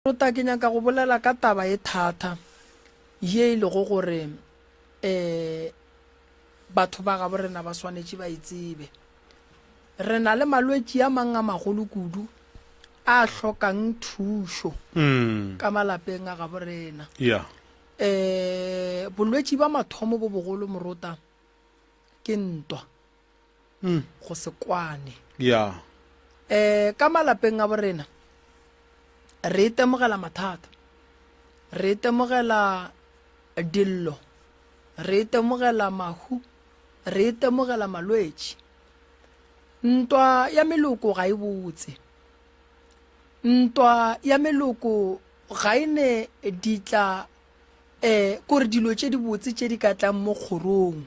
Tota ke nyaka go bolela ka taba e thata ye e lego gore um batho ba gabo rena ba swanetše ba e tsebe. Re na le malwetši a mang a magolo kudu a hlokang thušo mm. ka malapeng a gabo rena yeah. um bolwetši ba mathomo bo bogolo morota ke ntwa mm. go se kwane yeah. um ka malapeng a borena re itemogela mathata re itemogela dillo re itemogela mahu re itemogela malwetši ntwa ya meloko ga e botse ntwa ya meloko ga e ne ditla um kore dilo tše dibotse tše di ka tlang mo kgorong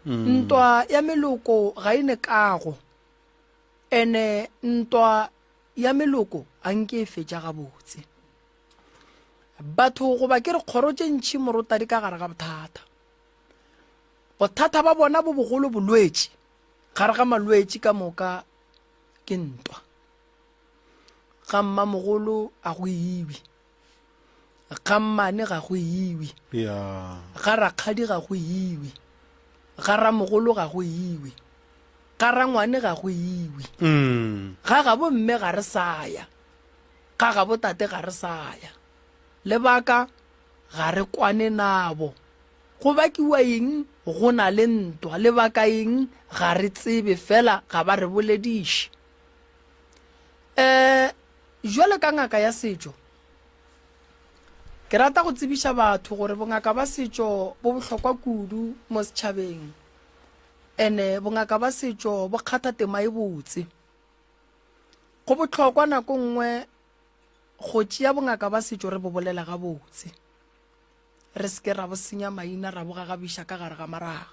ntwa ya meloko ga e ne kago ene ntwa ya meloko ga nke e fetša gabotse batho goba ke re kgoro tše ntšhi morota di ka gare ga bothata bothata ba bona bo bogolo bolwetši gare ga malwetši ka moka ke ntwa ga mmamogolo a go ibi ga mmane ga go iwe ga rakgadi ga go iwe ga ramogolo ga go iwe ga rangwane ga go iwe mm. ga gabo mme ga re saya ga gabo tate ga re saya lebaka ga re kwane nabo go bakiwa eng go na le ntwa lebaka eng ga re tsebe fela ga ba re bolediše um jwalo ka ngaka ya setšo ke rata go tsebiša batho gore bongaka ba setšo bo bohlokwa kudu mo setšhabeng ene bongaka ba setšo bo kgatha tema e botse go bohlokwa nako nngwe go tšea bongaka ba setšo re bo bolela gabotse re seke ra bo senya maina ra bo gagabiša ka gare ga maraga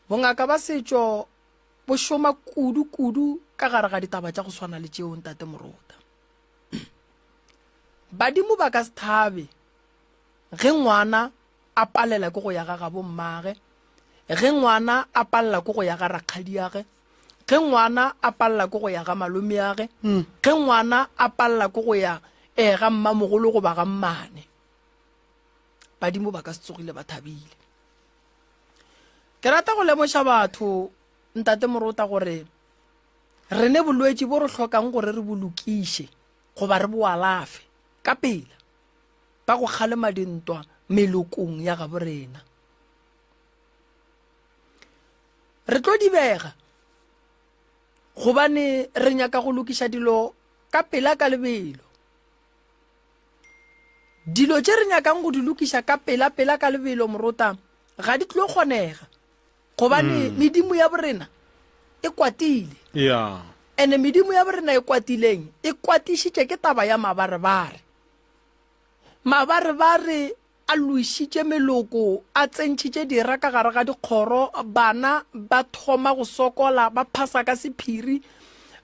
bongaka ba setšo bo šoma kudu-kudu ka gare ga ditaba tša go swana le tšeo ntate morota badimo ba ka se thabe ge ngwana a palela ke go ya ga gabo mmage ge ngwana a palela ke go ya ga rakgadiage ge ngwana a palela ke go ya ga malome age hmm. ge ngwana a palela ke go ya um ga mmamogolo goba ga mmane badimo ba ka se tsogile ba thabile Ke rata go lemoša batho, Ntate Morota, gore re ne bolwetši bo re hlokang gore re bolokiše goba re boalafe ka pela ka go kgalema dintwa melokong ya gabo rena re tlo dibega gobane re nyaka go lokiša dilo ka pela ka lebelo Dilo tše re nyakang go di lokiša ka pela-pela ka lebelo morota ga di tlo kgonega gobane mm. medimo ya borena e kwatile yeah. ene medimo ya borena e kwatileng e kwatišitše ke taba ya mabarebare mabarebare A loišitše meloko, a tsentšhitše dira ka gare ga dikgoro, bana ba thoma go sokola, ba phasa ka sephiri,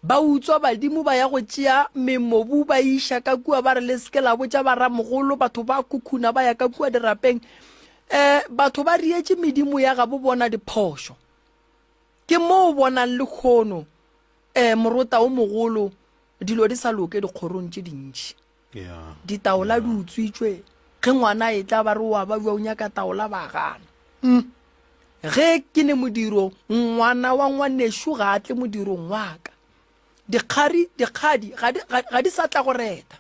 ba utswa badimo ba ya go tšea memobu ba iša ka kua ba re le seke la botša baramogolo, batho ba khukhuna ba ya ka kua dirapeng. Um batho ba rietše medimo ya gabo bona diphošo. Ke mo o bonang lekhono, um morota o mogolo, dilo di sa loke dikgorong tše dintši. Ditaola di utswitšwe ge ngwana e tla ba re wa ba bja o nyaka taola ba gana mm. ge ke ne modiro ngwana wa ngwanešu ga a tle modirong waka dikgari dikgadi ga di sa tla go reta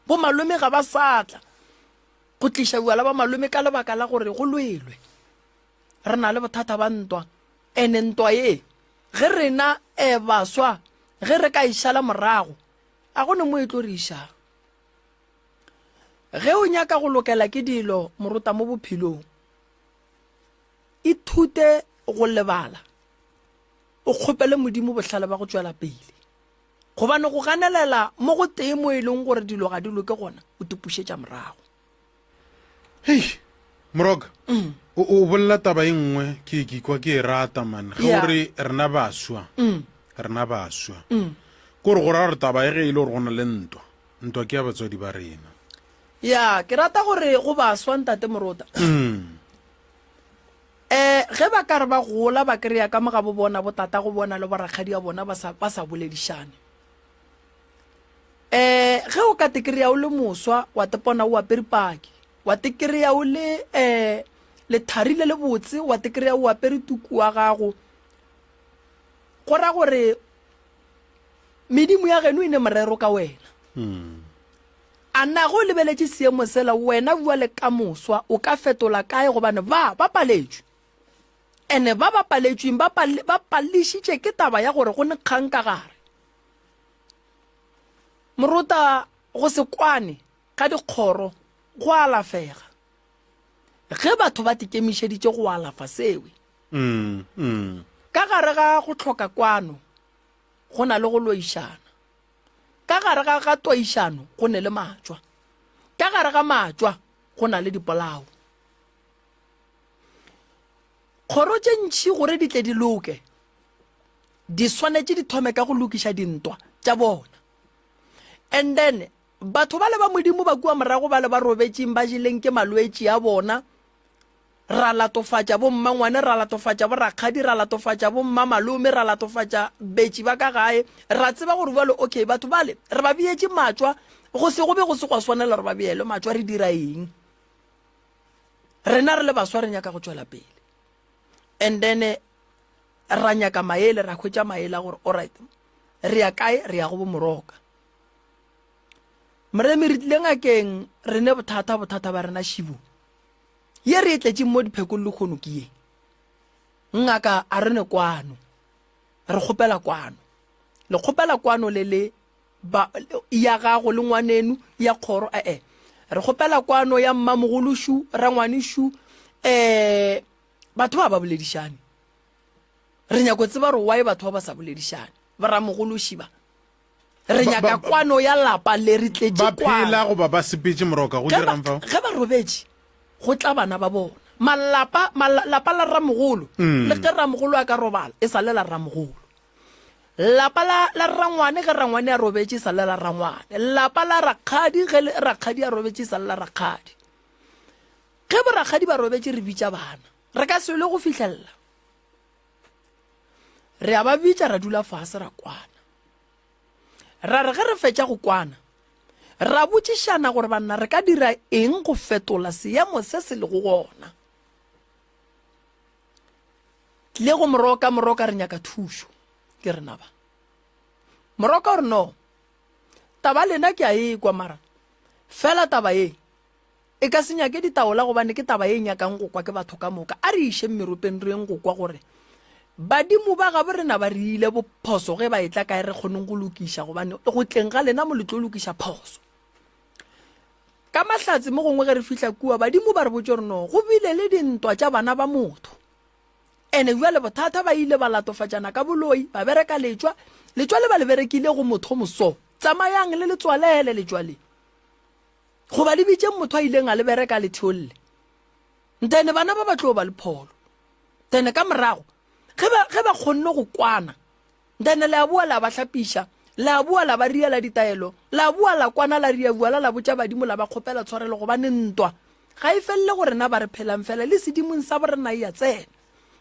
bo malome ga ba sa tla go tliša bjala ba malome ka lebaka la gore go lwelwe re na le bothata ba ntwa ene ntwa ye ge rena um baswa ge re ka e šala morago A go ne mo etloriša? Ge o nyaka go lokela ke dilo morota mo bophelong, ithute go lebala, o kgopele Modimo bohlale ba go tšwela pele. Gobane go ganelela mo go tee mo e leng gore dilo ga di loke gona o tipušetša morago. hei moroka mm. o bolela taba e nngwe ke ke kwa ke e rata man ge o re rena baswa mm. rena baswa mm. ke gore go ra gore taba e ge e le gore go na le ntwa ntwa ke ya batswadi ba rena ya ke rata gore go baswa ntate morota um ge ba ka re ba gola ba kry-a ka mo ga bo bona botata go bona le borakgadi ya bona ba sa boledišane eh ge o ka tekereya o le moswa wa tepona o apere paki wa tekereya o le eh lethari le le botse wa tekereya o apere tuku wa gago go ra gore medimo ya geno e ne morero ka wena hmm. a nna go lebeletše seemo sela wena bua le ka moswa o ka fetola kae gobane ba ba paletswe ene ba ba paletsweng ba palešitše ke taba ya gore go ne kgang ka gare Moruta go se kwane ka dikgoro go alafega ge batho ba tikemišeditše go alafa sewe. Ka gare ga go hloka kwano go na le go loišana. Ka gare ga ga toišano go ne le matšwa. Ka gare ga matšwa go na le dipolao. Kgoro tše ntši gore di tle di loke, Di swanetše di thome ka go lokiša dintwa tša bona. And then, batho bale ba Modimo ba kua morago bale ba robetšeng ba jeleng ke malwetši a bona, ra latofatša bo mmangwane, ra latofatša bo rakgadi, ra latofatša bo mmamalome, ra latofatša betši ba ka gae, ra tseba gore bjale okay batho bale re ba beetše matšwa, go se go be go se gwa swanela gore ba beelwe matšwa, re dira eng? Rena re le baswa re nyaka go tšwela pele. And then ra nyaka maele ra hwetša maele a gore orit re ya kae re ya go bomoroka moremi re tlile ngakeng re ne bothata bothata ba rena šibo ye re e tletseng mo diphekong le kgono ke ye ngaka a re ne kwano re kgopela kwano le kgopela kwano le le ba ya gago le ngwanenu ya kgoro ee re kgopela kwano ya mmamogolo shu rangwane shu eh Batho ba ba boledišane. Re nyako tseba gore why batho ba ba sa boledišane. Boramogolo šiba. Re nyaka kwano ya lapa le re tletše kwano. Ba phela goba ba sepetše moroka go dirang fao? Ge ba robetše go tla bana ba bona. Malapa malapa la ramogolo mm. le ge ramogolo a ka robala e sa le la ramogolo. Lapa la la rangwane ge rangwane a robetše e sa le la rangwane. Lapa la rakgadi ge rakgadi a robetše e sa le la rakgadi. Ge borakgadi ba robetše re bitša bana. Re ka se lwe go fihlelela re a ba bitša ra dula fase ra kwana. Ra re ge re fetša go kwana ra botšišana gore banna re ka dira eng go fetola seemo se se lego gona. Tle go moroka, moroka re nyaka thušo. Ke re naba. Moroka o re no, taba lena ke a ekwa mara fela taba e E ka se nyake ditaola gobane ke taba e nyakang go kwa ke batho ka moka. A re išeng meropeng re yeng go kwa gore badimo ba gabo rena ba re ile bophoso ge ba etla kae re kgoneng go lokiša gobane go tleng ga lena mo le tlo lokiša phoso. Ka mahlatse mo gongwe ge re fihla kua badimo ba re botse gore no go bile le dintwa tša bana ba motho. Ene jwale bothata ba ile ba latofatšana ka boloi ba bereka letšwa letšwa le ba le berekile go motho moso tsamayang le letswalele letšwa le Goba le bitšeng motho a ileng a le bereka a le theolle. Nthene bana ba ba tlo ba le pholo. Nthene ka morago, ge ba, ge ba kgonne go kwana, nthene le a boa la ba hlapiša, la a boa la ba riela ditaelo, la a boa la kwana la ria bua la la botša badimo la ba kgopela tshwarelo gobane ntwa ga e felele go rena ba re phelang fela le sedimong sa borena e a tsena.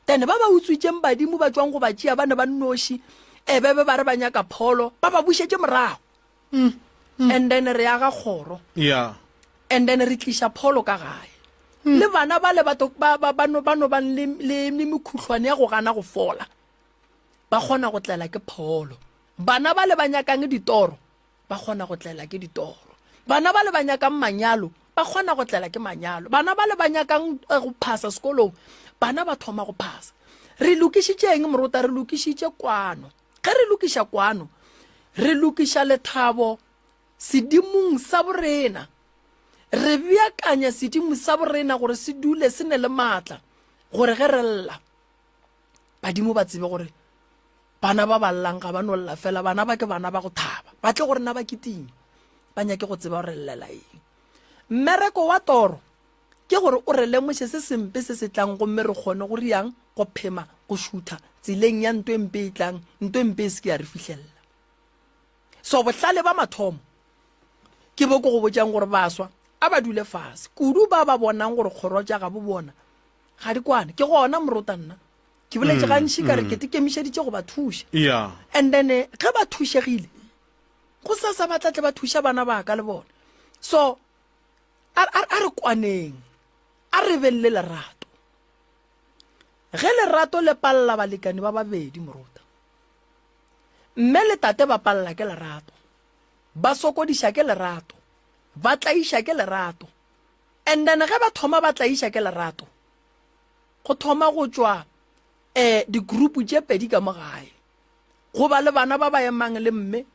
Nthene ba ba utswitšeng badimo ba tšwang go ba tšea ba ne ba nnoši ebebe ba re ba nyaka pholo ba ba bušetše morago. mm, mm. and then re aga kgoro yeah. and then re tliša pholo ka gae mm. le bana ba le ba no bang le mekhutlhwane ya go gana go fola ba kgona go tlela ke pholo bana ba le ba nyakang ditoro ba kgona go tlela ke ditoro bana ba le ba nyakang manyalo ba kgona go tlela ke manyalo bana ba le ba nyakang eh, go phasa sekolong bana ba thoma go phasa re lokišitšeng morota re lokišitše kwano Ge re lokiša kwano, re lokiša lethabo sedimong sa borena. Re beakanya sedimo sa borena gore se dule se ne le maatla gore ge re lla, badimo ba tsebe gore bana ba ba llang ga ba no lla fela, bana ba ke bana ba go thaba, ba tle go rena ba kitime, ba nyake go tseba gore re llela eng. Mmereko wa toro Ke gore o re lemoše se sempe se se tlang gomme re kgone go riang, go phema, go šutha tseleng ya nto e mpe e tlang, nto e mpe e se ke ya re fihlelela. So bohlale ba mathomo ke bo ke go botšang gore baswa a ba dule fase, kudu ba ba bonang gore kgoro tša gabo bona ga di kwane. Ke gona morota nna ke boletše gantši ka re ke te kemišeditše go ba thuša, and then eh, ge ba thušegile go sasa ba tlatle ba thuša bana ba ka le bone. So a re kwaneng a re beng le lerato ge lerato le palela balekane ba babedi morota mme le tate ba palela ke lerato ba sokodiša ke lerato ba tlaiša ke lerato and then ge ba thoma ba tlaiša ke lerato go thoma go tšwa um eh, digroupu tše pedi ka mo gae go ba le bana ba ba emang le mme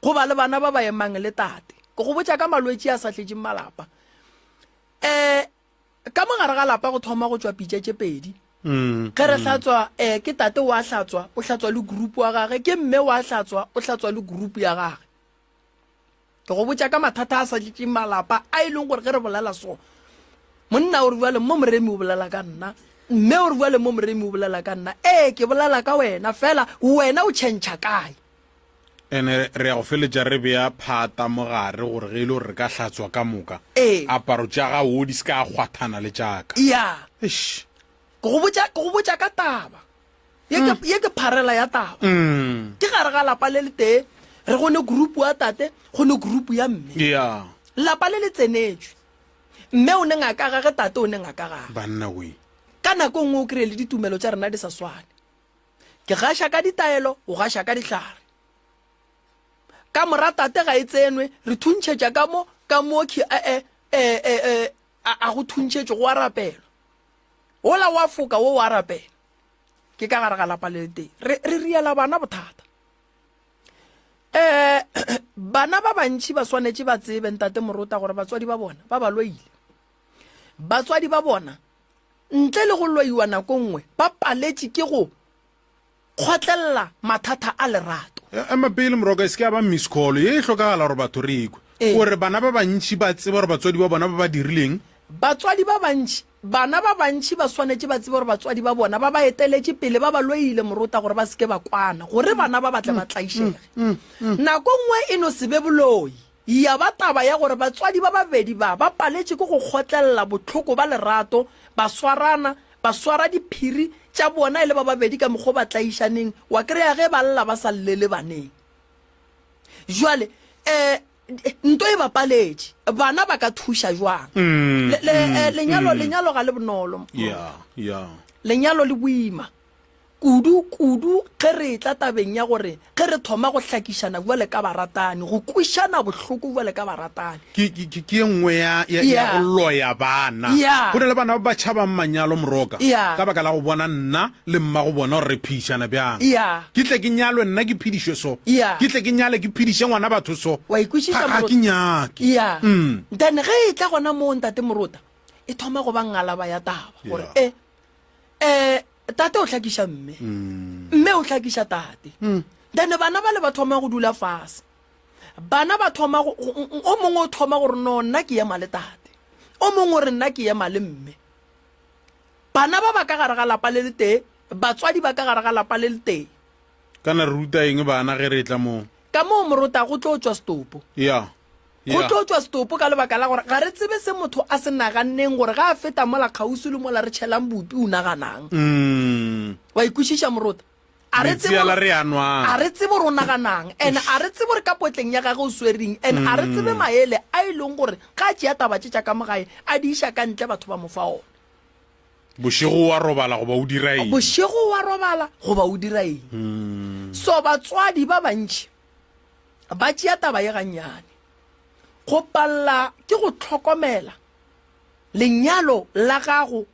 Go ba le bana ba ba emang le tate. Ke go botša ka malwetši a sa tletšeng malapa. Um Ka mogare ga lapa go thoma go tšwa pitša tše pedi. Mm, Ge re mm. hlatswa, um ke tate wa hlatswa, o hlatswa le group wa gage, ke mme wa hlatswa, o hlatswa le group ya gage. Ke go botša ka mathata a sa tletšeng malapa a e leng gore ge re bolela so, monna o re bjale mo moremi o bolela ka nna, mme o re bjale mo moremi o bolela ka nna, ee ke bolela ka wena fela wena o tšhentšha kae? ene re ya go feletša re beya phata mo gare gore ge e le gore re ka hlatswa ka moka Ee. aparo tša gago di se ka kgwathana le tšaka ya Eish. ke go botša ke go botša ka taba ye ke ye ke pharela ya taba Mm. ke gare ga lapa le le tee re go ne group wa tate go ne group ya mme ya lapa le le tsenetswe mme o ne ngaka gage tate o ne ngaka gage banna we ka nako e nngwe o kry-e le ditumelo tša rena di sa swane ke gaša ka ditaelo o gaša ka dihlare ka mora tate ga e tsenwe re thuntšhetša ka mo ka mokhi a e e e e a a go thuntšhetše go arapelo ola wa foka wo wa arapela ke ka gare ga lapa le teng re re riela bana bothata eh bana ba bantši ba swanetše ba tsebe ntate morota gore batswadi ba bona ba ba loile batswadi ba bona Ntle le go loiwa nako nngwe ba paletše ke go kgotlelela mathata a lerato. Ema pele moroka, e se ke ya ba miss call. Ye e hlokagala gore batho re e kwe. O re bana ba bantši ba tseba gore batswadi ba bona ba ba dirileng. Batswadi ba bantši, Bana ba bantši ba swanetše ba tsebe gore batswadi ba bona ba ba eteletše pele ba ba loile morota gore ba se ke ba kwana, gore bana ba ba tle ba tlaišege. Nako nngwe e no se be boloi. Ya ba taba ya gore batswadi ba babedi ba ba paletše ke go kgotlelela bohloko ba lerato, ba swarana, ba swara diphiri tša bona e le ba babedi ka mokgwa o ba tlaišaneng, wa kry-a ge ba lla ba sa llele baneng. Bjale um nto e ba paletše, bana ba ka thuša bjang? Le, le, eh, lenyalo, lenyalo ga le bonolo. Yeah, yeah. Lenyalo le boima. kudu kudu ge re etla tabeng ya gore ge re thoma go hlakišana bjale ka baratani, go kwišana bohloko bjale ka baratani. Ke, ke, ke, ke ye nngwe ya, ya, ya Yeah. go loya bana. Yeah. Go na le bana ba ba tšhabang manyalo, moroka, Yeah. ka baka la go bona nna le mmago bona gore re phedišana bjang. Yeah. Ke tle ke nyalwe nna ke phedišwe so. Yeah. Ke tle ke nyale ke phediše ngwana batho so. Wa e kwešiša, Ga, ga Morota? ke nyake. Yeah. Mm. Then ge e tla gona moo, Ntate Morota, e thoma go ba ngalaba ya taba, gore Yeah. e, eh, tate o hlakiša mme mme o hlakiša tate then bana ba le ba thoma go dula fase bana ba thoma go- go- go- o mongwe o thoma gore no nna ke ema le tate o mongwe o re nna ke ema le mme bana ba ba ka gare ga lapa le le tee batswadi ba ka gare ga lapa le le tee Kana re ruta eng bana ge re etla moo? Ka moo morota, go tlo tšwa setopo. Ya. Go Ya. tlo tšwa setopo ka lebaka la gore ga re tsebe se motho a se naganneng gore ga a feta mola kgauswi le mola re tšhelang bupi o naganang. Mm. Wa e kwešiša morota? A re tsebe Metsi a la gore- re a nwang. a re tsebe gore o naganang and a re tsebe gore ka potleng ya gage o swereng and a re tsebe maele a e leng gore ga a tšea taba tše tša ka mo gae a di iša ka ntle batho ba mo fa ona. bošego wa robala goba o dira eng bošego wa robala goba o dira eng hmm. so batswadi ba bantši ba tšea taba ye gannyane go palela ke go tlhokomela lenyalo la gago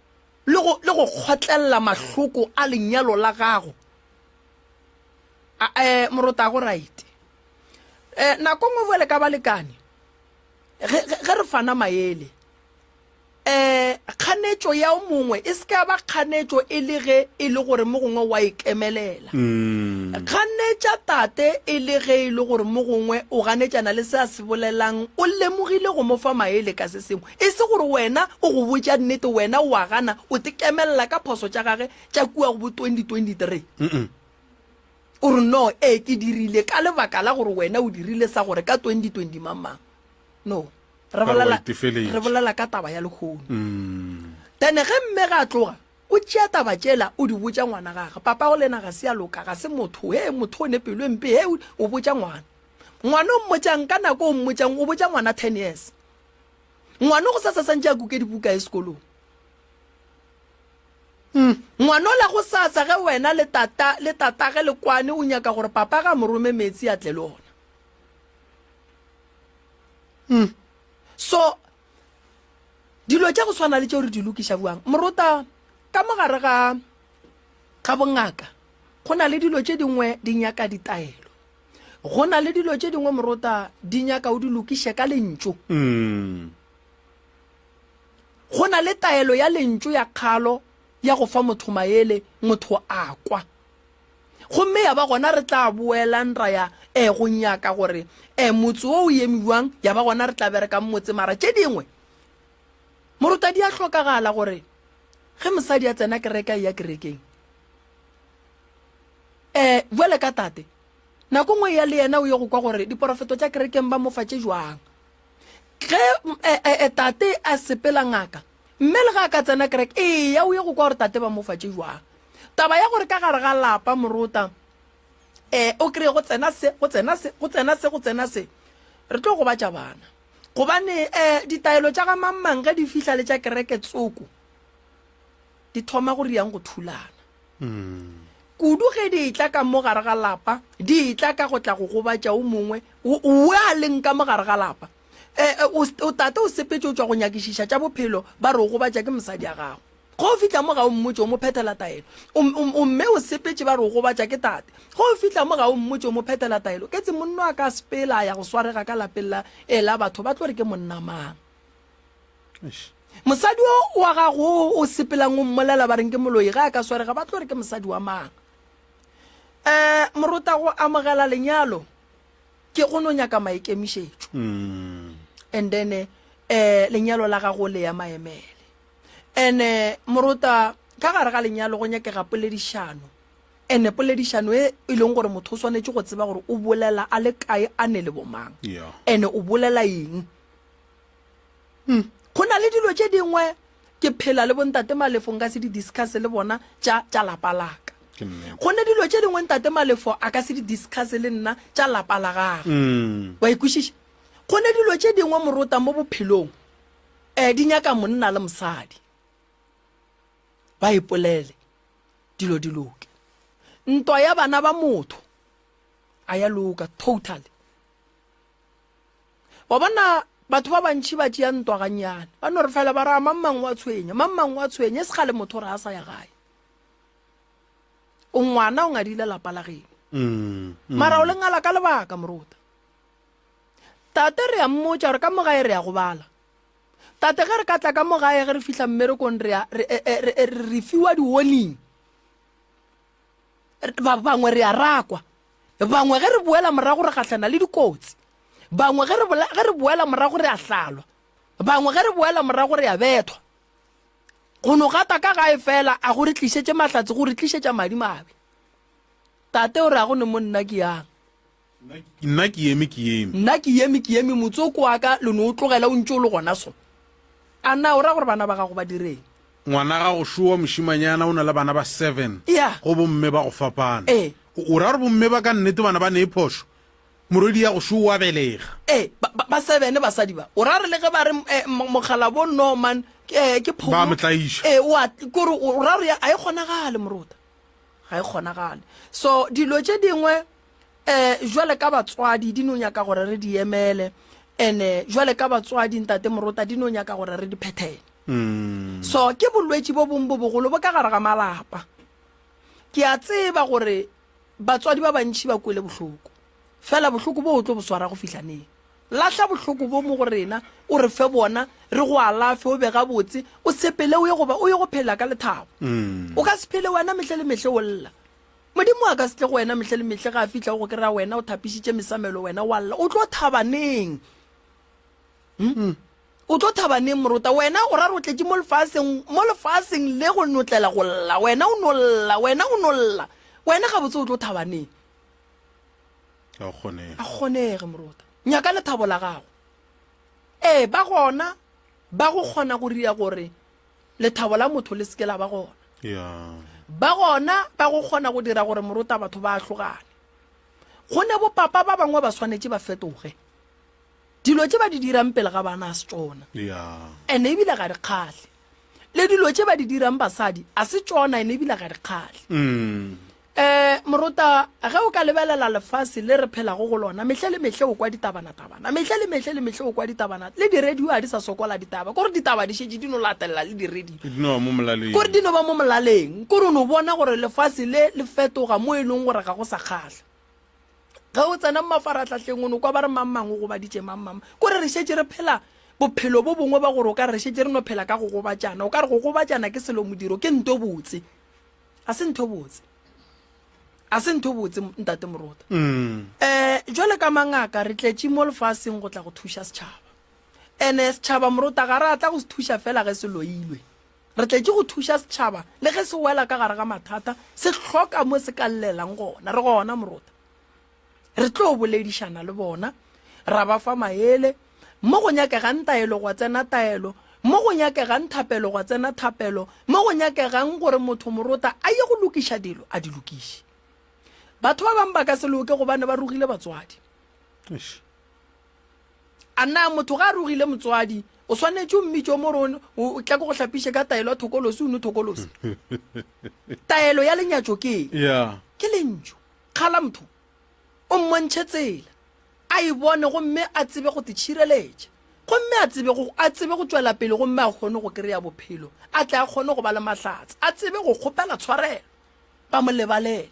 le go kgotlelela mahloko a lenyalo la gago um morota go right um nako ngwe bjale ka balekane ge re fana maele Ee, kganetšo ya o mongwe e se ka ya ba kganetšo e le ge e le gore mo gongwe wa e kemelela. Ganetša tate e le ge e le gore mo gongwe o ganetšana le se a se bolelang, o lemogile go mo fa maele ka se sengwe. E se gore wena o go botša nnete, wena o a gana, o tekemelela ka phoso tša gage tša kua go bo 2023. O re, No, ee, ke dirile, ka lebaka la gore wena o dirile sa gore ka 2020 mang-mang. no re bolela re bolela ka taba ya lekhono mm. then ge mme ga tloga o tšea taba tšela o di botša ngwana gage papa go lena ga se ya loka ga se motho he motho o ne pelo e mpe he o botša ngwana ngwana o mmotšang ka nako o mmotšang o botša ngwana ten years ngwana go sa sa santse a kuke dibuka e sekolong hmm. ngwana o la go sa sa ge wena le tata le tatage le kwane o nyaka gore papa ga morome metsi a tle le ona mm. so dilo tša go swana le tšeo re di lokiša buang morota ka mogare ga ga bongaka go na le dilo tše dingwe di nyaka ditaelo go na le dilo tše dingwe morota di nyaka o di lokiše ka lentšu mm. go na le taelo ya lentšu ya kgalo ya go fa motho maele motho a kwa Gomme ya ba gona re tla boelang ra ya eh, go nyaka gore eh, motse wo o eme bjang, ya ba gona re tla bereka motse. Mara tše dingwe, moruta, di a hlokagala gore ge mosadi a tsena kereke, a eya kerekeng. Eh, bjale ka tate, nako ngwe ya le yena o ye go kwa gore diporofeto tša kerekeng ba mo fa tše jwang. Ge eh, eh, eh, tate a sepela ngaka, Mme le ge a ka tsena kereke, eya o ye go kwa gore tate ba mo fa tše jwang. Taba ya gore ka gare ga lapa morota um o kry-e go tsena se, go tsena se, go tsena se, go tsena se, re tlo gobatša bana gobane um ditaelo tša ga mang mang ge di fihla le tša kereke tsoko di thoma go riang go thulana kudu ge di etla ka mo gare ga lapa di etla ka go tla go gobatša o mongwe o a leng ka mo gare ga lapa eh, eh, o o tata o sepetse o tswa go nyakišiša tša bophelo ba re o gobatša ke mosadi ya gago go o fitlha mo ga o mmotse o mo phethela taelo O- o- o mme o sepetse ba re o gobatša ke tate go o fitlha mo ga o mmotse o mo phethela taelo ke tse monno a ka sepela a ya go swarega ka lapeng la ela batho ba tlo re ke monna mang Eish. mosadi o wa gago o o sepelang o mmolela ba reng ke moloi ga a ka swarega ba tlo re ke mosadi wa mang um morotago amogela lenyalo ke go no nyaka maikemišetšo and then um lenyalo la gago le ya maemele and morota ka gare ga lenyalo go nyakega poledišano and poledišano e e leng gore motho o swanetše go tseba gore o bolela a le kae a ne le bomang and o bolela eng hmm. go na le dilo tše dingwe ke phela le bontate malefo nka se di discuss le bona tša tša lapa laka go ne dilo tše dingwe ntate malefo a ka se di discuss le nna tša lapa la gagwe mm. wa ikwešiša go ne dilo tše dingwe morota mo bophelong um di nyaka monna le mosadi ba ipolele dilo di loke ntwa ya bana ba motho a ya loka totally wa bona batho ba bantšhi ba tšea ntwa gannyane ba no re fela ba raa mang mang wa tshwenya mang mang wa tshwenya e se gale motho re a sa ya gae o ngwana o ngadile lapa la geno mm, mm. mara o le ngala ka lebaka moruta tate re a mmotša gore ka mogae re ya go bala tate ge re ka tla ka mogae ge re fihla mmerekong re e, e, e, re fiwa di-warning bangwe re a rakwa bangwe ge re boela morago re gahlana le dikotsi bangwe ge re boela morago re a hlalwa bangwe ge re boela morago re a bethwa go no gata ka gae fela a go re tlišetše mahlatse go re tlišetša madi mabe tate o re a go ne monna ke yang Nna ke yeme ke yeme. Nna ke yeme ke yeme motsoko wa ka lo no o tlogela o ntše o le gona so. A na o ra gore bana ba gago ba direng? Ngwana gago Showa mošimanyana o na le bana ba seven Yeah. go bomme ba go fapana. Ee. O o ra gore bomme ba ka nnete bana ba ne e phošo? Morwedi ya go Showa o a belega. Ee, ba, ba, ba seven basadi ba. O ra gore le ge ba re eh, mo- mokgalabo Norman ke eh, ke phomo. Ba mo tlaiša. Ee, o a, ke gore o o ra gore ya- ga e kgonagale morota. Ga e kgonagale. So dilo tše dingwe um jwale ka batswadi di no nyaka gore re di emele ene jwale ka batswadi ntate morota di no nyaka gore re di phethele mm. so ke bolwetši bo bong bo bogolo bo ka gare ga malapa ke a tseba gore batswadi ba bantšhi ba kwele bohloko fela bohloko bo o tlo bo swara go fihla neng lahla bohloko bo mo go rena o re fe bona re go alafe o be gabotse o sepele o ye goba o ye go phela ka lethabo mm. o ka se phele wena mehle le mehle o lla Modimo a ka se tle go wena mehle le mehle ge a fihla o go kry-a wena o thapišitše mesamelo wena wa lla o tlo thabaneng hmm? hmm. o tlo thabaneng morota wena o ra re o tletše mo lefaseng mo lefaseng le go notlela go lla wena o no lla wena o no lla wena ga botse o tlo thabaneng a kgonege morota nyaka lethabo la gago ee ba gona ba go kgona go ria gore Lethabo la motho le seke la ba gona. Ba gona ba go kgona go dira gore morota batho ba ahlogane. Go ne bo papa ba bangwe ba swanetše ba fetoge. Dilo tše ba di dirang pele ga bana a se tšona. Ene ebile ga di kgahle. Le dilo tše ba di dirang basadi a se tšona ene ebile ga di kgahle. Mm. Um morota, ge o ka lebelela lefase le re phelago go lona, mehle le mehle o kwa ditabanatabana, mehle le mehle le mehle o kwa ditabana, le diredio a di sa sokola ditaba, kore ditaba di šetše di no latelela le diredio, kore di no ba mo molaleng, kore o no bona gore lefase le le fetoga mo e leng gore ga go sa kgahla. Ge o tsena mo mafarahlahleng o no kwa ba re mang mang o gobaditše mang mang, kore re šetše re phela bophelo bo bongwe ba gore o ka re re šetše re no phela ka go gobatšana, o ka re go gobatšana ke selo modiro, ke nto botse. a se ntho botse a se ntho botse ntate morota um jwale ka mangaka re tletše mo lefaseng go tla go thuša setšhaba ene setšhaba morota ga re atla go se thuša fela ge se loilwe re tletše go thuša setšhaba le ge se wela ka gare ga mathata se hloka mo se ka llelang gona re gona morota re tlo boledišana le bona ra ba fa maele mo go nyakegang taelo gwa tsena taelo mo go nyakegang thapelo gwa tsena thapelo mo go nyakegang gore motho morota a ye go lokiša dilo a di lokiše batho ba bangwe ba ka se loke gobane ba rogile batswadi a na motho ga a rogile motswadi o swanetše o mmitse o more o tla ko go hlapiše ka taelo ya thokolosi o ne thokolosi taelo ya lenyatso ke ke lentso Kgalamtho o mmontšhe tsela a e bone gomme a tsebe go titšhireletša gomme a tsebe go a tsebe go tšwela pele gomme a kgone go kry-a bophelo a tle a kgone go ba le mahlatse a tsebe go kgopela tshwarelo ba mo lebalele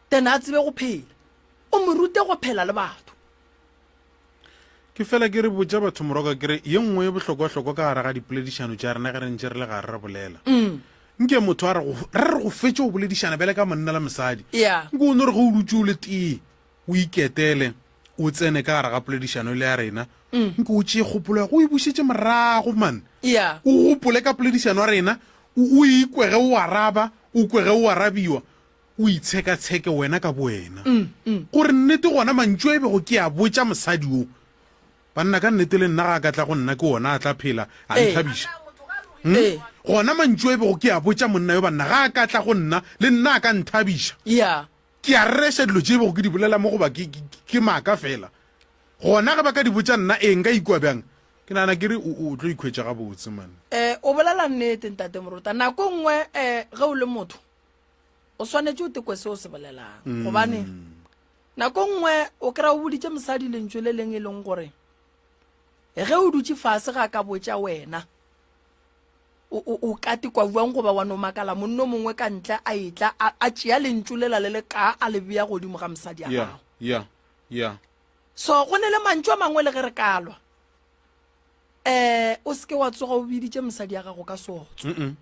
then a tsebe go phela o mo rute go phela le batho Ke fela ke re botša batho moroka ke re ye nngwe e bohlokwahlokwa ka gare ga dipoledišano tša rena ge re ntše re le gare re bolela mm. nke motho a re re go fetše go boledišana bjale ka monna le mosadi yeah. nke o no re ge o dutse o le tee o iketele o tsene ka gare ga poledišano e le ya rena mm. nke o tšee kgopolo ya go e bušetse morago man yeah. o gopole ka poledišano ya rena o ikwege o araba o kwege o arabiwa O itshekatsheke wena ka bowena. Gore nnete gona mantšu a e bego ke a botša mosadi wo, Banna, ka nnete le nna ga a ka tla go nna ke wona a tla phela a nthabiša? Gona mantšu a e bego ke a botša monna yo, Banna, ga a ka tla go nna le nna a ka nthabiša? Ke a rereša dilo tše e bego ke di bolela mo goba ke maaka feela? Gona ge ba ka di botša nna, ee, nka ikwa bjang? Ke nagana ke re o tlo ikhwetša gabotse, man. O bolela nnete, Ntate Morota. Nako e nngwe ge o le motho, o swanetše o tekwe se o se bolelang mm. gobane nako nngwe o kry-a o boditše mosadi lentso le leng e leng gore ge o dutse fase ga ka botša wena o ka tekwa jwang goba wa no makala monno mongwe ka ntle a etla a tšea lentso lela le le ka a le beya godimo ga mosadi a gago yeah, yeah. so go ne le mantso a mangwe le ge re kalwa um o seke wa tsoga o biditše mosadi ya gago ka sotso mm -mm.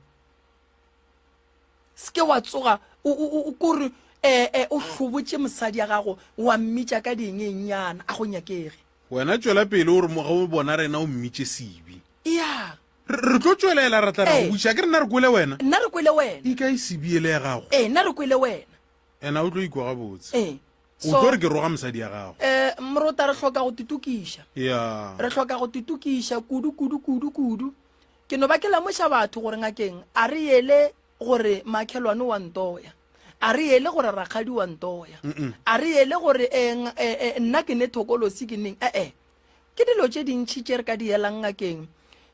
se ke wa tsoga o kore um eh, eh, o hlobotše mosadi ya gago wa mmitša ka diengenyana a go nyakege wena tšwela pele o re mo ge o bona rena o mmitše sebe ya re tlo tšwelela ra tla ra go buša ke rena re kwele wena nna re kwele wena e ka e sebiele ya gago ee nna re kwele wena ena o tlo ikwa gabotse ee o tlo re ke roga mosadi ya gago um morota re tlhoka go titokiša ya re tlhoka go titokiša kudu kudu kudu kudu Ke no ba ke lemoša batho gore ngakeng a re yele gore makhelwane wa ntoya a re yele gore rakgadi wa ntoya a re yele gore eh, eh, eh, nna ke ne thokolosi ke neng ee eh, ke dilo tše dintšhi tše re ka di yelang ngakeng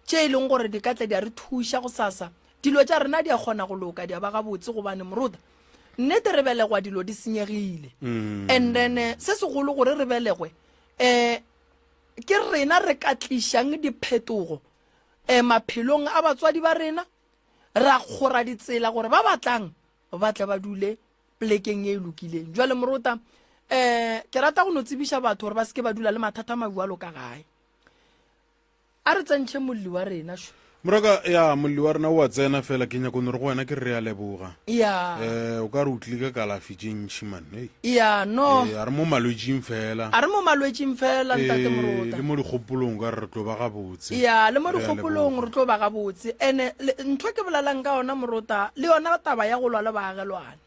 tše e leng gore di ka tla di a re thuša go sasa dilo tša rena di a kgona go loka di a ba gabotse gobane moruta nnete re belegwa dilo di senyegile mm. and then eh, se segolo gore re belegwe um ke rena re ka tlišang diphetogo eh, maphelong a batswadi ba rena ra kgora ditsela gore ba batlang ba tle ba dule plekeng e e lokileng jwale morota eh ke rata go no tsebiša batho gore ba seke ba dula le mathata mabualo ka gae a re tsentšhe molli wa rena sho moroka ya molli wa rena o a tsena fela ke nyako nore go wena ke re a leboga ya um o ka re o tlile ka kalafi tše ntšhi man hey. ya no Eh, a re mo malwetšing fela a re mo malwetšing fela ntate Eh, morota le mo dikgopolong o ka re re tlo ba gabotse ya le mo Re a dikgopolong leboga. re tlo ba gabotse ene le- ntho ke bolelang ka yona morota le yona taba ya go lwa le baagelwane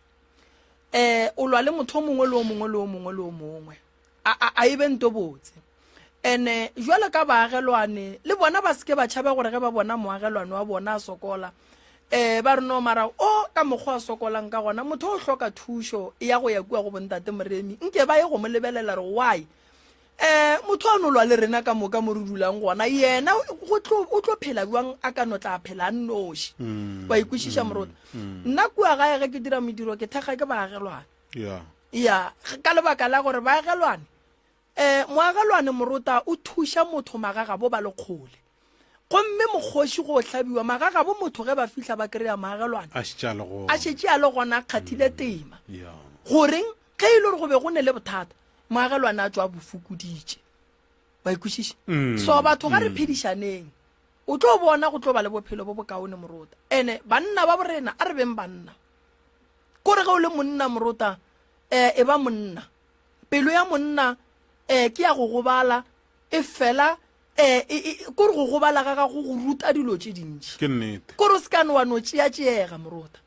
um o lwa le motho o mongwe le o mongwe le o mongwe le o mongwe a e be nto botse ene jwalo ka baagelwane le bona ba seke ba tšhabe gore ge ba bona moagelwane wa bona a sokola um ba re no mara o ka mokgwa a sokolang ka gona motho o hloka thušo ya go ya kua go bontate moremi nke ba ye go mo lebelela re why um motho a nolwa le rena ka moka mo re dulang gona yena o tlo phela jwang a ka no tla phela a nnoši mm, wa ikwešiša mm, morota mm. nna kua gae ge ke dira modiro ke thekga ke baagelwane ya ya ka lebaka la gore baagelwane um moagelwane morota o thuša motho magagabo ba le kgole gomme mokgoši go hlabiwa magagabo motho ge ba fihla ba kry-a moagelwane a šetše a le go a šetše a le gona a kgathile tema ya goreng ge e le gore go be go ne le bothata moagelwane a tswa a bofokoditše ba ikwešiše Mm. so batho ga re phedišaneng o tlo bona go tlo ba le bophelo bo bokaone morota ene banna ba borena a re beng banna Kore ge o le monna morota, eh, e ba monna. Pelo ya monna, eh, ke ya go gobala, e fela, eh, e, e, kore go gobala ga gago go ruta dilo tše dintši. Ke nnete. Kore o se ka ne wa no tšeatšeega, morota.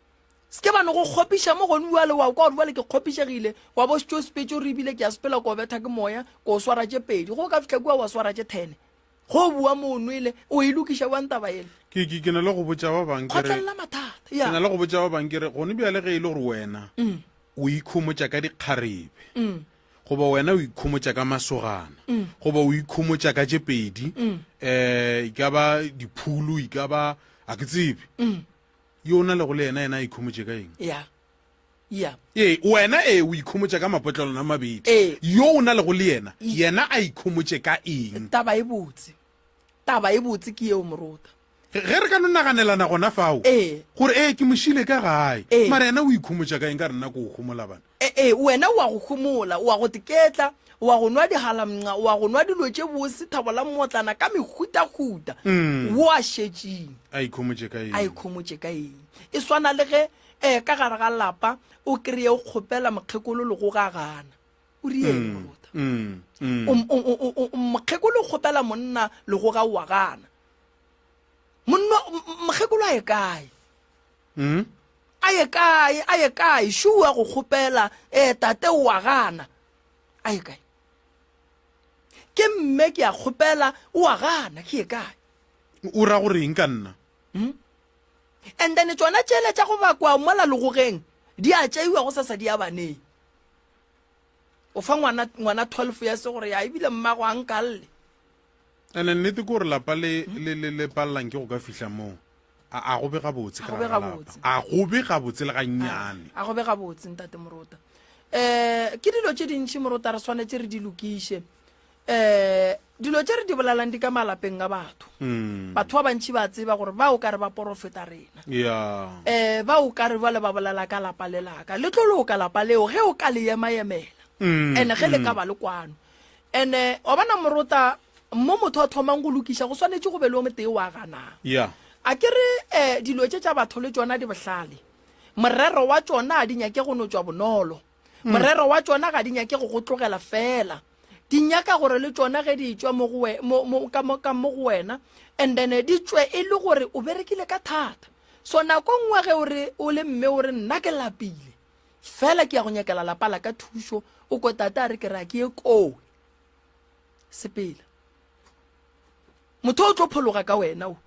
Se ke ba no go kgopiša mo gone uale wa kwa gore uale ke kgopišegile, wa bo sepetšo re ebile ke ya sepela ko betha ke moya, ko swara tše pedi. Go ka fihla kua wa swara tše thene. Go bua mo o nwele, o e lokiša bjang taba yele? Ke, ke, ke na le go botša ba bang ke re, Kgotlelela mathata, ke ya. na le go botša ba bang ke re, gone bjale ge e le gore wena o ikhomotša ka dikgarebe, goba wena o ikhomotša ka masogana, goba o ikhomotša ka tše pedi, um e ka ba diphulu, e ka ba, a ke tsebe, yo o na lego le yena, yena a ikhomotše ka eng? Ya. ya ee wena ee o ikhomotša ka mapotlelwana a mabedi Ee. yo o na lego le yena Ee. yena a ikhomotše ka eng taba e botse taba e botse ke yeo morota ge ge re ka no naganelana gona fao Ee. gore ee ke mošile ka gae Ee. mara yena o ikhomotša ka eng ka re nna ko o gomola bana E- ee wena o a go homola o a go teketla o a go nwa dihalamnca o a go nwa dilo tše bose thabo la mmotlana ka mehutahuta Mm. wo a šetšeng a ikhomotše ka a eng ikhomotše ka eng e swana le ge Ee, ka gare ga lapa o kreye o kgopela mokgekolo legogo a gana. O rieng mm, morota? Mm, mm. Mokgekolo o kgopela monna legoga o a gana. Mokgekolo a ye kae? Mm? A ye kae? A ye kae? Shua go kgopela ee tate o a gana. A ye kae? Ke mme ke a kgopela o a gana ke ye kae? O ra goreng ka nna? Mm? And then tšona tšele tša go bakwa mola legogeng di a tšeiwa go sasa di a baneng. O fa ngwana ngwana 12 ya se gore ya ebile mmago a nkalle. Ene nnete ke gore lapa le hmm? le le le pallang ke go ka fihla moo. A a go be gabotse ka ga lapa. A go be gabotse le ga nnyane. A go be gabotse ntate morota. Eh ke dilo tše dintši morota re swanetse re di lokiše. um dilo tše re di bolalang di ka malapeng a batho mm. batho ba bantšhi ba tseba gore ba o ka re ba porofeta rena um ba o ka re bale ba bolela ka lapa le laka le tlo loka lapa leo ge o ka le ema-emela mm, and-e ge le ka mm. ba le kwano and-e wa bona morota mo motho a thomang go lokiša go swanetše go be le o motee wa ganang a ke re um dilo tše tša batho le tsona di bohlale morero wa tsona a di nyake go no tswa bonolo Mm. Morero wa tšona ga di nyake go go tlogela fela. Di nyaka gore le tšona ge di tšwa mo go we- mo- mo- ka mo ka mo go wena and then di tšwe e le gore o berekile ka thata. So nako e nngwe ge o re o le mme o re nna ke lapile fela ke ya go nyakela lapa la ka thušo o ko tata a re ke re a ke ye koo sepela motho o tlo phologa ka wena o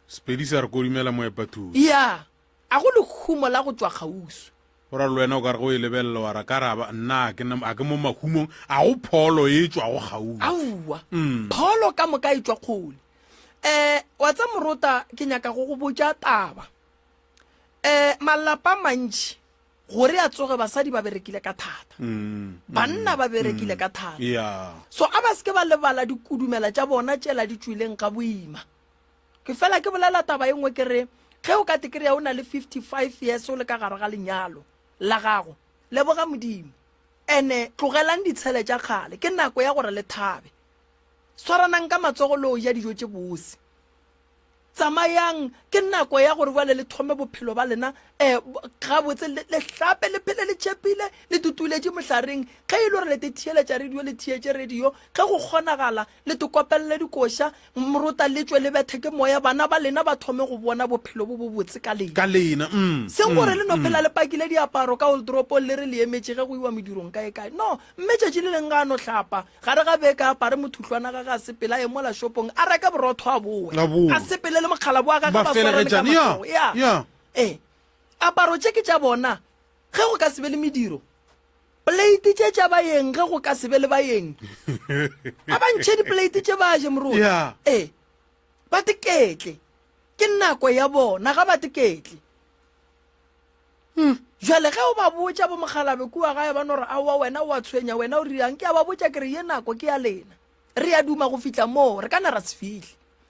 Sepedi sa re kodumela moepa thuso. ya A go lehumo la go tšwa kgauswi? Go ra le wena o ka re ge o e lebelela wa ra ka ra ba nna a ke ne a ke mo mahumong a go pholo e tšwa go gaufi aowa mm. pholo ka moka e tšwa kgole eh wa tsa morota ke nyaka go go botša taba eh malapa mantši gore a tsoge basadi ba berekile ka thata mm, mm. banna ba berekile ka thata yeah. so a ba seke ba lebala dikudumela tša bona tšela di tšwileng ka boima ke fela ke bolela taba e nngwe ke re ge o ka te kry-a o na le 55 years o le ka gare ga lenyalo la gago leboga modimo ene tlogelang ditshele tša kgale ke nako ya gore le thabe swaranang ka matsogo le o ja dijo tše bose tsamayang ke nako ya gore bjale le thome bophelo ba lena um gabotse le hlape le phele le tšhepile le tutuletše mohlareng ge e le gore le te theeletša radio le theetše radio ge go kgonagala Le tokopelele dikoša, mrota le tšwe le bethe ke moya, bana ba lena ba thome go bona bophelo bo bobotse ka lena. Ka lena, mm, mm. Seng gore le no phela le pakile diaparo ka oldoropong le re le emetše ge go iwa medirong kaekae. No, mme tšatši le leng ga a no hlapa, gare ga beke a apare mothuhlwana gage a sepele a ye mola shopong a reke borotho a bowe, A bowe. a sepele le mokgalabo wa gage Ba ba swarane ka felegetšane, ya, matsogo. Ya. ya. Ee. Aparo tše ke tša bona. Ge go ka se be le mediro, pleite tše tša bayeng ge go ka se be le bayeng a ba ntšhe dipleite tše ba je moroti Yeah. ee ba teketle ke nako ya bona ga ba teketle jale ge o ba botša bo mogalabe kua gae ba no re aowa wena o a tshwenya wena o riang ke a ba botša ke re ye nako ke ya lena re ya duma go fihla moo re ka na ra se fihle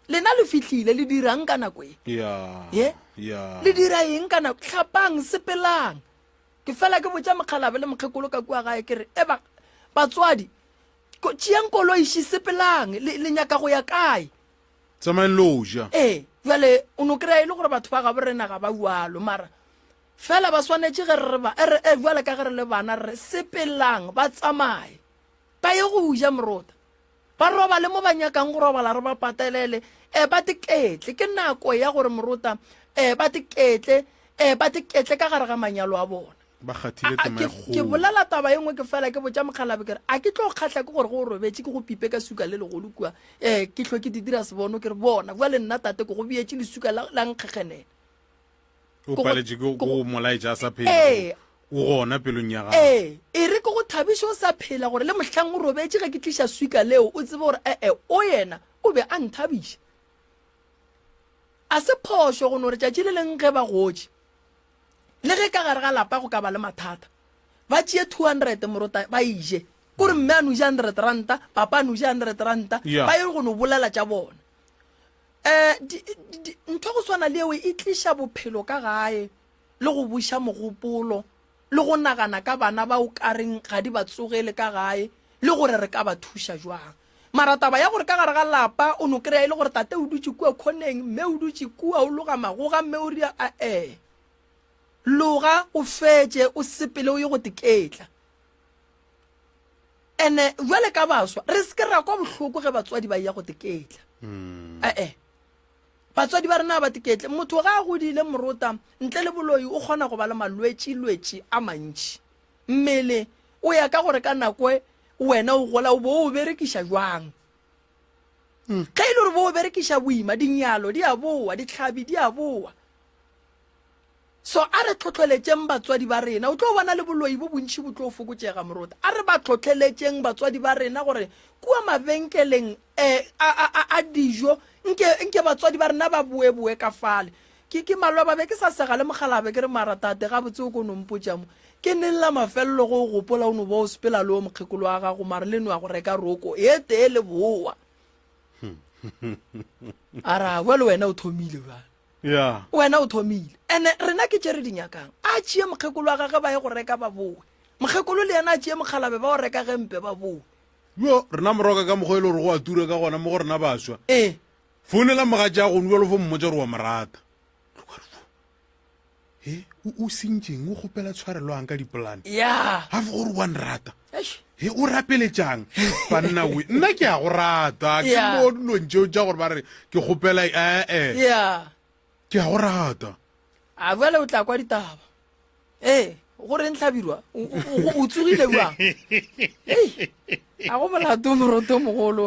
lena le fihlile le dirang ka nako e Yeah. ye Yeah. le dira eng ka nako tlhapang sepelang ke fela ke botša mokgalabe le mokgekolo ka kua gae ke re eba batswadi tšeang koloiši sepelang le, le nyaka go ya kae tsamaeng lo ja ee jale o no kry-a e le gore batho ba gabo rena ga ba bjalo mara fela ba swanetše ge re ba re e jale ka ge re le bana re sepelang ba tsamaye ba ye go ja morota Ba robale mo ba nyakang go robala, re ba patelele. Eh, ba diketle. Ke nako ya gore morota, eh, ba diketle, eh, ba diketle ka gare ga manyalo a bona. Ba kgathile A- a- tema e ke- Ke kgolo. bolela taba e nngwe ke fela ke botša mokgalabe ke re a ke tlo kgatlha ke gore go o robetše ke go pipe ka suka le legolo kua um ke hlwe ke di dira sebono ke re bona bjale nna tate ke go beetše lesuka la la nkgekgenela o paletše ke go molaetša a sa phela ee. o gona pelong ya gago ee e re ke go thabiše o sa phela gore le mohlang o robetše ge ke tliša swika leo o tsebe gore ee o yena o be a nthabiša a se phošo go no re tšatši le leng ge ba gotše le ge ka gare ga lapa go ka ba le mathata ba tšee two hundred morota ba ije kore mme a noja hundred ranta papa a noja hundred ranta ba ye go no bolela tša bona um ntho go swana le eo e tliša bophelo ka gae le go buša mogopolo le go nagana ka bana ba o kareng ga di ba tsogele ka gae le gore re ka ba thuša jwang mara taba ya gore ka gare ga lapa o no kry-a e le gore tate o dutse kua khoneng mme o dutse kua o loga magoga mme o ria a-e loga o fetše o sepele o ye go teketla ene jwale ka baswa re se ke ra kwa bohloko ge batswadi ba ya go teketla hmm. ee eh. batswadi ba rena ba teketle motho ga a godile morota ntle le boloi o kgona go ba le malwetši-lwetši a mantši mmele o ya ka gore ka nako e, wena o gola o bo o berekiša jwang hmm. ge e le gore bo o berekiša boima dinyalo di a boa ditlhabi di a boa So a re tlhohleletšeng batswadi ba rena. O tlo bona le boloi bo bontši bo tlo fokotšega, moruta. A re ba tlhohleletšeng batswadi ba rena gore kua mabenkeleng um a, a, a, a dijo, nke, nke batswadi ba rena ba boeboe ka fale. Ke, ke maloba be ke sa sega le mokgalaa be ke re, Mara, tate, gabotse o ko no mpotša mo. Ke neng la mafelelo ge o gopola o no ba o sepela le o mokgekolo wa gago, mare le no ya go reka roko e tee le bowa? A ra, Bjale wena o thomile bjale. wena o thomile ene rena ke tše re di nyakang a tšee mokgekolo wa gage ba ye go reka ba bowe mokgekolo le yena a tšee mokgalabe ba o reka gempe ba bowe yo rena moroka ka mokgwa e le gore go a tura ka gona mo go rena baswa ee founela mogatša a gone bjalo fo mmotsa gore wa morata he o o sentšeng o kgopela tshwareloang ka dipolane ya ga fo gore wa nrata eish he o rapeletšang banna we nna ke a go rata ke Yeah. mo dilong tšeo tša gore ba re ke kgopela ee ya ke a go rata a bjale o tla kwa ditaba ee gore ntlhabirwa o- o o- o tsogile bjang Ei, a go molato moroto mogolo